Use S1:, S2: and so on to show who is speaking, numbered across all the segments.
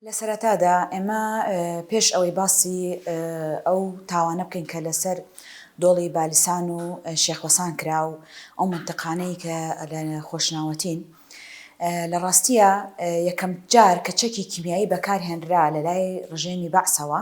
S1: لە سەرەتادا ئێمە پێش ئەوەی باسی ئەو تاوانە بکەین کە لەسەر دۆڵی بالیسان و شێخ وەسان کرا و ئەو منتقانەی کە لە خۆشناوەتین لە ڕاستیە یەکەم جار کە چەکی کیمیایی بەکارهێنرا لە لای ڕژێمی بەعسەوە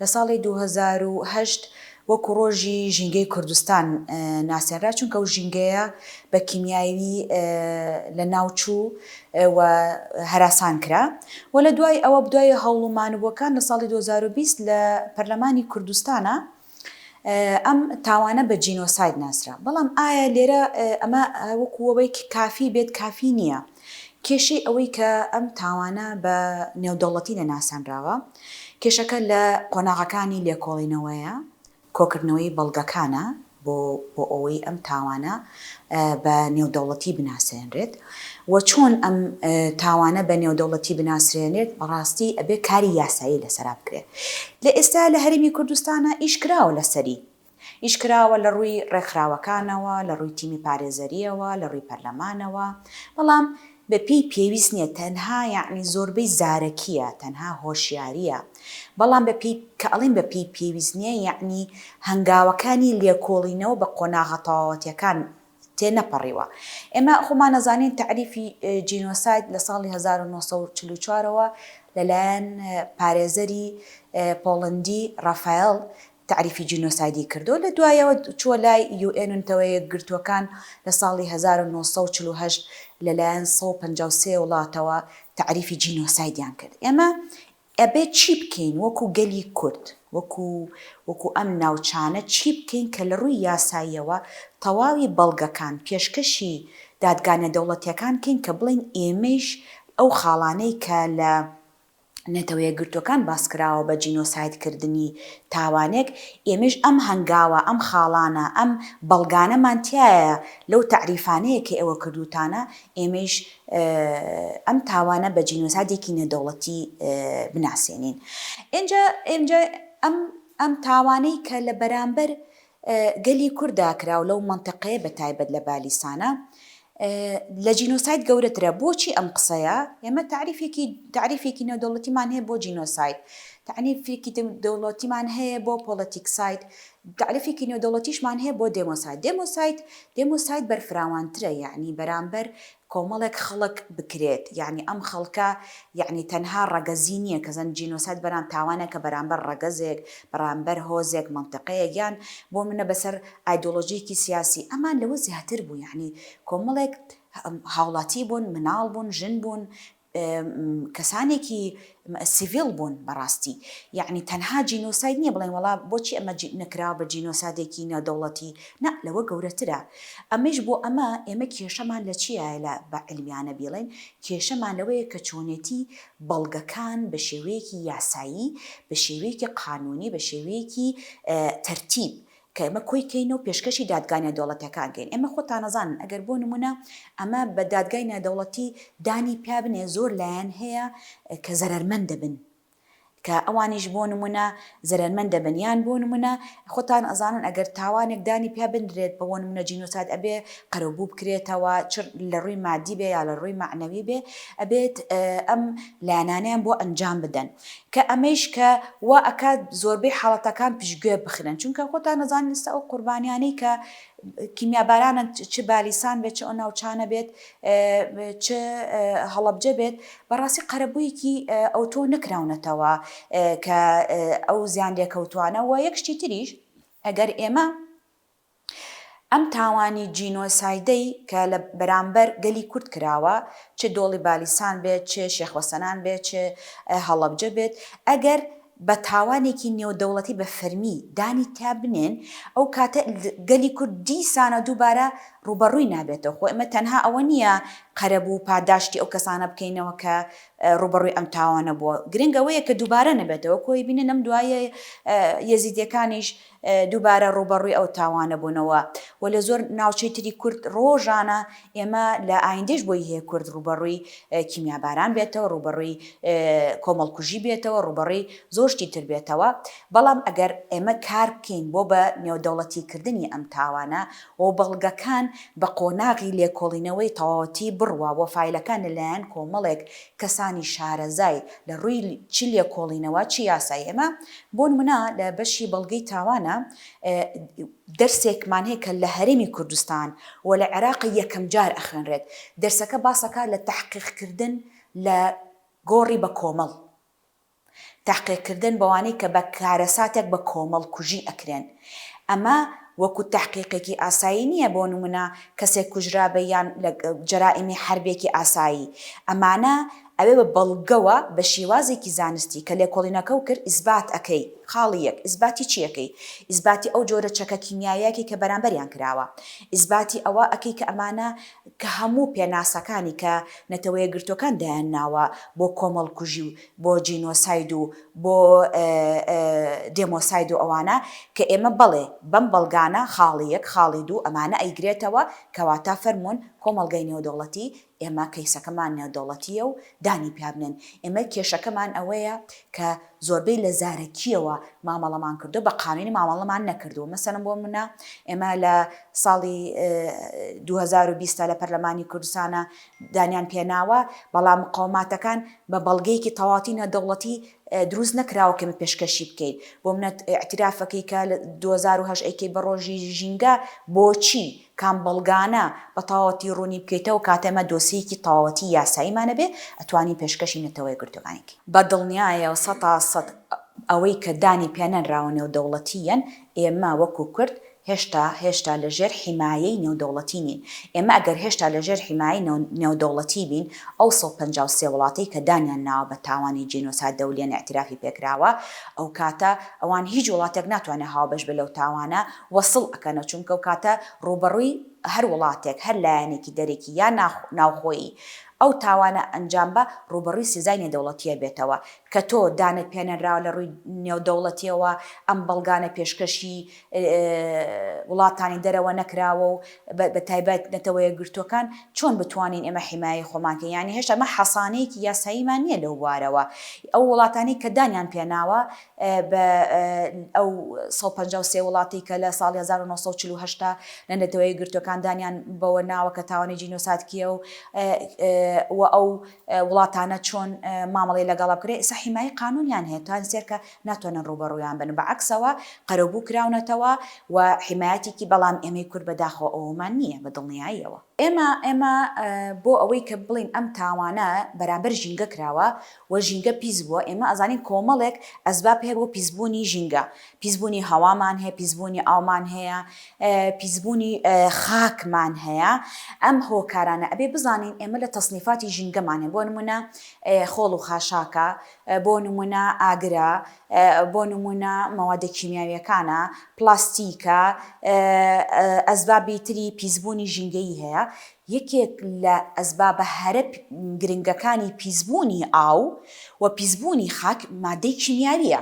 S1: لە ساڵی دوو هەزار و هەشت وەکو ڕۆژی ژینگەی کوردستان ناسێنرا چونکە ئەو ژینگەیە بە کیمیاوی لە ناو چوو و هەراسان کرا و لە دوای ئەوە بدوای هەوڵ و مانوبووەکان لە ساڵی دوو هەزار و بیست لە پەرلەمانی کوردستانە ئەم تاوانە بە جینۆساید ناسرا بەڵام ئایا لێرە ئەمە وەکوەوەیکی کافی بێت کافی نییە کێشەی ئەوەی کە ئەم تاوانە بە نێودەوڵەتی نەناسێنراوە، کێشەکە لە قۆناغەکانی لێکۆڵینەوەیە، کۆکردنەوەی بەڵگەکانە بۆ بۆ ئەوەی ئەم تاوانە بە نێودەوڵەتی بناسێنرێت و چۆن ئەم تاوانە بە نێودەوڵەتی بناسرێنێت بەڕاستی ئەبێ کاری یاسایی لەسەرا بکرێت لە ئێستا لە هەرێمی کوردستانە ئیش کراوە لەسەری یش کراوە لە ڕووی ڕێکخراوەکانەوە، لە ڕووی تیمی پارێزەرییەوە، لە ڕووی پەرلەمانەوە، بەڵام بە پێی پێویست نییە، تەنها یەعنی زۆربەی زارەکییە، تەنها هۆشیارییە، بەڵام بە پێی، کە ئەڵێین بە پێی پێویست نییە یەعنی هەنگاوەکانی لێکۆڵینەوە بە قۆناغە تەواوەتییەکان تێ نەپەڕیوە. ئێمە خۆمان ئەزانین تەعریفی جینۆساید لە ساڵی هەزار و نۆ سەد و چل و چوار ەوە لە لایەن پارێزەری پۆڵەندی ڕافایەڵ تەعریفی جینۆسایدی کردو لە دوایەوە چووە لای یو ئێن و نەتەوە یەکگرتووەکان لە ساڵی هەزار و نۆ سەد و چل و هەشت لە لایەن سەد و پەنجا و سێ وڵاتەوە تەعریفی جینۆسایدیان کرد ئێمە ئەبێ چی بکەین وەکو گەلی کورد وەکو وەکو ئەم ناوچانە چی بکەین کە لە ڕووی یاساییەوە تەواوی بەڵگەکان پێشکەشی دادگا نێدەوڵەتیەکان کەین کە بڵێین ئێمەیش ئەو خاڵانەی کە لە نەتەوە یەکگرتووەکان باسکراوە بە جینۆساید کردنی تاوانێک، ئێمەیش ئەم هەنگاوە، ئەم خاڵانە، ئەم بەڵگانەمان تیایە لەو تەعریفانەی کە ئێوە کردووتانە، ئێمەیش ئەم تاوانە بە جینۆسایدێکی نێودەوڵەتی بناسێنین. ئینجا ئێمە ئەم تاوانەی کە لە بەرامبەر گەلی کورد داکراو لەو مەنتەقەیە بە تایبەت لە بالیسانە لە جینۆساید گەورەترە بۆچی ئەم قسەیە ئێمە تاریفێکی تاریفێکی نێودەوڵەتیمان هەیە بۆ جینۆساید تاریفێکی دەوڵەتیمان هەیە بۆ پۆڵەتیکساید تاریفێکی نێودەوڵەتیشمان هەیە بۆ دێمۆساید دێمۆساید دێمۆساید بەرفراوانترە یعنی بەرامبەر کۆمەڵێک خەڵک بکرێت یانی ئەم خەڵکە یانی تەنها ڕەگەزی نیە کە زانی جینۆساید بەرام تاوانەکە بەرامبەر ڕەگەزێک بەڕامبەر هۆزێک مەنتەقەیەک یان بۆ منە بەسەر ئایدۆلۆژیەکی سیاسی ئەمان لەوە زیاتر بوو یانی کۆمەڵێک هاوڵاتی بوون مناڵ بوون ژن بوون کەسانێکی سڤیل بوون بەڕاستی یەعنی تەنها جینۆساید نیە بڵێن وەڵا بۆچی ئەمە نەکراوە بە جینۆسادێکی نادەوڵەتی نا لەوە گەورەترە ئەمەیش بۆ ئەمە ئێمە کێشەمان لە چیە لە بە علمیانە بیڵێن کێشەمان لەوەیە کە چۆنێتی بەڵگەکان بە شێوەیەکی یاسایی بە شێوەیەکی قانونی بە شێوەیەکی تەرتیب کە ئێمە کۆی کەین و پێشکەشی دادگا نێودەوڵەتیەکان کەین ئێمە خۆتانەزانن ئەگەر بۆ نمونە ئەمە بە دادگای نێودەوڵەتی دانی پیا بنێ زۆر لایەن هەیە کە زەرەرمەند دەبن کە ئەوانیش بۆ نمونە زەرەرمەند دەبن یان بۆ نمونە خۆتان ئەزانن ئەگەر تاوانێک دانی پیا بنرێت بە بۆ نمونە جینۆساید ئەبێ قەرەبوو بکرێتەوە چ لە ڕووی مادی بێ یا لە ڕووی مەعنەوی بێ ئەبێت ئەم لایەنانەیان بۆ ئەنجام بدەن کە ئەمەیش کە وا ئەکات زۆربەی حاڵەتەکان پشتگوێ بخرێن چونکە خۆتان ئەزانن ئیستا ئەو قوربانیانەی کە کیمیابارانن چ بالیسان بێت چ ئەو ناوچانە بێت چ هەڵەبجە بێت بەڕاستی قەرەبوویەکی ئەوتۆ نەکراونەتەوە کە ئەو زیان لێکەوتوانە و یەک شتی تریش ئەگەر ئێمە ئەم تاوانی جینۆسایدەی کە لە بەرامبەر گەلی کورد کراوە، چ دۆڵی بالیسان بێت، چ شێخ وەسەنان بێت، چ هەڵەبجە بێت، ئەگەر بە تاوانێکی نێودەوڵەتی بە فەرمی دانی تیا بنێن، ئەو کاتە گەلی کورد دیسانە دووبارە ڕووبەڕووی نابێتەوە. خۆ ئێمە تەنها ئەوە نییە قەرەبوو و پاداشتی ئەو کەسانە بکەینەوە کە ڕووبەڕووی ئەم تاوانە بووە، گرنگ ئەوەیە کە دووبارە نەبێتەوە. کۆی بینن ئەم دواییە یەزیدییەکانیش دووبارە ڕووبەڕووی ئەو تاوانە بوونەوە و لە زۆر ناوچەی تری کورد ڕۆژانە ئێمە لە ئایندەیش بۆی هەیە کورد ڕووبەڕووی کیمیاباران بێتەوە، ڕووبەڕووی کۆمەڵکوژی بێتەوە، ڕووبەڕووی زۆر شتی تر بێتەوە، بەڵام ئەگەر ئێمە کار بکەین بۆ بە نێودەوڵەتی کردنی ئەم تاوانە و بەڵگەکان بە قۆناغی لێکۆڵینەوەی تەواوەتی بڕوا و فایلەکان لە لایەن کۆمەڵێک کەسانی شارەزای لە ڕووی چ لێکۆڵینەوە چ یاسای ئێمە بۆ نمونە لە بەشی بەڵگەی تاوانە دەرسێکمان هەیە کە لە هەرێمی کوردستان و لە عێراقە یەکەم جار ئەخوێنرێت دەرسەکە باسەکات لە تەحقیق کردن لە گۆڕی بە کۆمەڵ. تەحقیق کردن بەوانەی کە بە کارەساتێک بە کۆمەڵ کوژی ئەکرێن ئەمە وەکو تەحقیقێکی ئاسایی نیە بۆ نمونە کەسێک کوژرابێ یان لە جەرائمی حەربێکی ئاسایی ئەمانە ئەوێ بە بەڵگەوە بە شیوازێکی زانستی کە لێکۆڵینەکەو کرد ئیسبات ئەکەی خاڵی یەک ئیسباتی چی ئەکەی ئیسباتی ئەو جۆرە چەکە کیمیایەکی کە بەرامبەریان کراوە ئیسباتی ئەوە ئەکەی کە ئەمانە کە هەموو پێناسەکانی کە نەتەوەیەکگرتوەکان دایان ناوە بۆ کۆمەڵ کوژی و بۆ جینۆساید و بۆ دێمۆساید و ئەوانە کە ئێمە بەڵێ بەم بەڵگانە خاڵی یەک خاڵی دوو ئەمانە ئەیگرێتەوە کەواتە فەرموون کۆمەڵگای نێودەوڵەتی ئێمە کەیسەکەمان نێودەوڵەتییە و دانی پیا بنێن ئێمە کێشەکەمان ئەوەیە کە زۆربەی لە زارەکییەوە مامەڵەمان کردووە بە قانونی مامەڵەمان نەکردووە مەسەن بۆ منە ئێمە لە ساڵی 2020 لە پەرلەمانی کوردستانە دانیان پێناوە، بەڵام مقەوماتەکان بە بەڵگەیەکی تەواتی نێودەوڵەتی دروست نەکراوە کە ئێمە پێشکەشی بکەین. بۆ منەت ئیعتیرافەکەی کە لە دوو هەزار و هەشت ئەیکەی بە ڕۆژی ژینگە بۆچی؟ کام بەڵگانە؟ بە تەواوەتی ڕوونی بکەیتەوە کاتێ ئێمە دۆسیەیەکی تەواوەتی یاساییمان هەبێ ئەتوانین پێشکەشی نەتەوە یەکگرتووەکانی بکەین. بە دڵنیایەوە سەتا سەد ئەوەی کە دانی پێنەنراوە نێودەوڵەتییەن، ئێمە وەکوو کورد هێشتا هێشتا لە ژێر حیمایەی نێودەوڵەتی نین. ئێمە ئەگەر هێشتا لە ژێر حیمایەی نێودەوڵەتی بین، ئەو سەد و پەنجا و سێ وڵاتەی کە دانیان ناوە بە تاوانی جینۆساید دەولیەن ئیعتیرافی پێکراوە، ئەو کاتە ئەوان هیچ وڵاتێک ناتوانێ هاوبەش بێ لەو تاوانە و سڵ ئەکەنەوە چونکە ئەو کاتە ڕووبەڕووی هەر وڵاتێک، هەر لایەنێکی دەرەکی یا ناوخۆیی ئەو تاوانە ئەنجام با ڕووبەڕووی سزای نێودەوڵەتیە بێتەوە کە تۆ دانت پێنەنراوە لە ڕووی نێودەوڵەتیەوە ئەم بەڵگانە پێشکەشی وڵاتانی دەرەوە نەکراوە و بە تایبەت نەتەوە یەکگرتووەکان چۆن بتوانین ئێمە حیمایەی خۆمان کەین یانی هێشتا ئێمە حەسانەیەکی یاساییمان نییە لەو بوارەوە ئەو وڵاتانەی کە دانیان پێناوە بە ئەو سەد و پەنجا و سێ وڵاتی کە لە ساڵی هەزار و نۆ سەد و چل و هەشت لە نەتەوە یەکگرتووەکان دانیان بەوە ناوە کە تاوانی جینۆساد کییە و و ئەو وڵاتانە چۆن مامەڵەی لەگەڵ بکرێت ئێستا حیمایەی قانوونیان هەیە توانسێت کە ناتوانن ڕووبەڕوویان بن بە عەکسەوە قەرەبوو کراونەتەوە و حیمایەتێکی بەڵام ئێمەی کورد بە داخەوە ئەوەمان نییە بە دڵنیاییەوە ئێمە ئێمە بۆ ئەوەی کە بڵێین ئەم تاوانە بەرامبەر ژینگە کراوە و ژینگە پیس بووە ئێمە ئەزانین کۆمەڵێک ئەسباب هەیە بۆ پیس بوونی ژینگە پیس بوونی هەوامان هەیە پیس بوونی ئاومان هەیە پیس بوونی خاکمان هەیە ئەم هۆکارانە ئەبێ بزانین ئێمە لە تەسنیفاتی ژینگەمان هەیە بۆ نمونە خۆڵ و خاشاکە بۆ نموونە ئاگرە، بۆ نموونە مەوادە کیمیاوییەکانە، پلاستیکە، ئەسبابی تری پیسبوونی ژینگەیی هەیە. یەکێک لە ئەسبابە هەرە گرنگەکانی پیسبوونی ئاو و پیسبوونی خاک مادەی کیمیاوییە.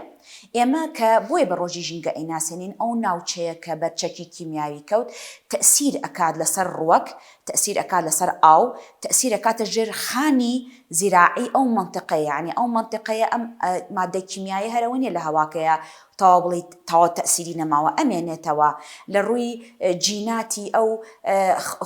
S1: ئێمە کە بۆیە بە ڕۆژی ژینگە ئەیناسێنین، ئەو ناوچەیە کە بەر چەکی کیمیاوی کەوت، تەئسیر ئەکات لەسەر ڕووەک، تەئسیر ئەکات لەسەر ئاو تەئسیر ئەکاتە ژێر خانی زیراعی ئەو مەنتقەیە یانی ئەو مەنتقەیە ئەم مادە کیمیایە هەرە وە نیە لە هەواکەیا تەواو بڵیت تەواو تەئسیری نەماوە ئەمێنێتەوە لە ڕووی جیناتی ئەو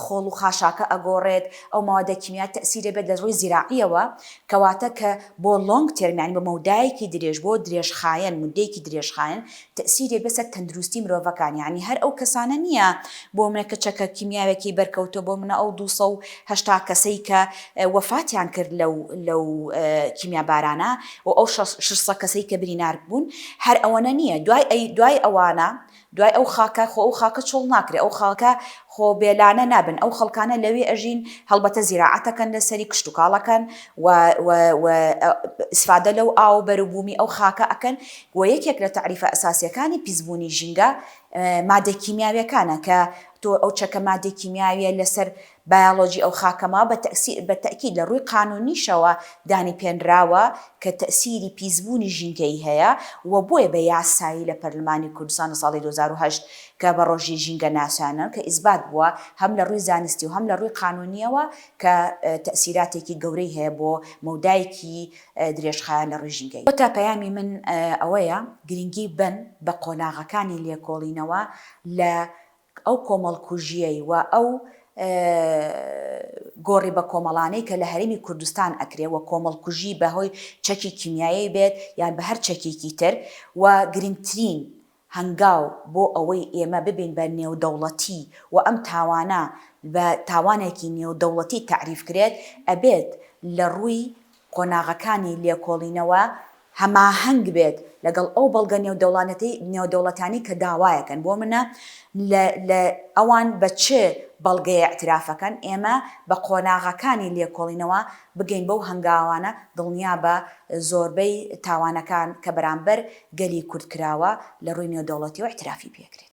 S1: خۆڵ و خاشاکە ئەگۆڕێت ئەو مادە کیمیا تەئسیرە بێت لە ڕووی زیراعیەوە کەواتە کە بۆ لۆنگ تێرم یانی بۆ مەودایەکی درێژ بۆ درێژخایەن مدەیەکی درێژخایەن تەئسیرێک لەسەر تەندروستی مرۆڤەکان یانی هەر ئەو کەسانە نیە بۆمنە کە چەکە کیمیاوێکی بەرکەوتوە بۆمنە ئەو دوو سەد و هەشتا کەسەی کە وەفاتیان کرد لەو لەو کیمیا بارانە و ئەو شەش سەد کەسەی کە برینارک بوون هەر ئەوەنە نیە دوای ئەی دوای ئەوانە دوای ئەو خاکە خۆ ئەو خاکە چۆڵ ناکرێ ئەو خاکە خۆ بێلانە نابن ئەو خەڵکانە لەوێ ئەژین هەڵبەتە زیراعەتەکەن لەسەری کشت و کاڵەکەن و و و ئیسفادە لەو ئاو بەروبومی ئەو خاکە ئەکەن وە یەکێک لە تەعریفە ئەساسیەکانی پیسبوونی ژینگە مادە کیمیاویەکانە کە تۆ ئەو چەکە مادە کیمیاویە لەسەر بایەڵۆجی ئەو خاکەما بە تەئسیر بە تەئکید لە ڕووی قانونیشەوە دانی پێنراوە کە تەئسیری پیسبوونی ژینگەیی هەیە وە بۆیە بە یاسایی لە پەرلمانی کوردستان لە ساڵی دوو هەزار و هەشت کە بە ڕۆژی ژینگە ناسیانن کە ئیسبات بووە هەم لە ڕووی زانستی و هەم لە ڕووی قانونیەوە کە تەئسیراتێکی گەورەی هەیە بۆ مەودایەکی درێژخایەن لە ڕیژی گەی. واتە پەیامی من ئەوەیە گرنگی بەن بە قۆناغەکانی لێکۆڵینەوە لە ئەو کۆمەڵکوژیەی و ئەو گۆڕی بەکۆمەڵانەی کە لە هەرێمی کوردستان ئەکرێ و کۆمەڵکوژی بە هۆی چەکی کیمیایی بێت یان بە هەر چەکێکی تر و گرنگترین هەنگاو بۆ ئەوەی ئێمە ببین بە نێودەوڵەتی و ئەم تاوانە بە تاوانێکی نێودەوڵەتی تەعریف کرێت، ئەبێت لە ڕووی قۆناغەکانی لێکۆڵینەوە هەماهەنگ بێت لەگەڵ ئەو بەڵگە نێودەوڵەتانەی کە داوایەکەن، بۆ منە لە ئەوان بە چ بەڵگەیە ئیعترافەکەن، ئێمە بە قۆناغەکانی لێکۆڵینەوە بگەین بەو هەنگاوانە دڵنیابە زۆربەی تاوانەکان کە بەرامبەر گەلی کورد کراوە لە ڕووی نێودەوڵەتیەوە ئیعترافی پێکرێت.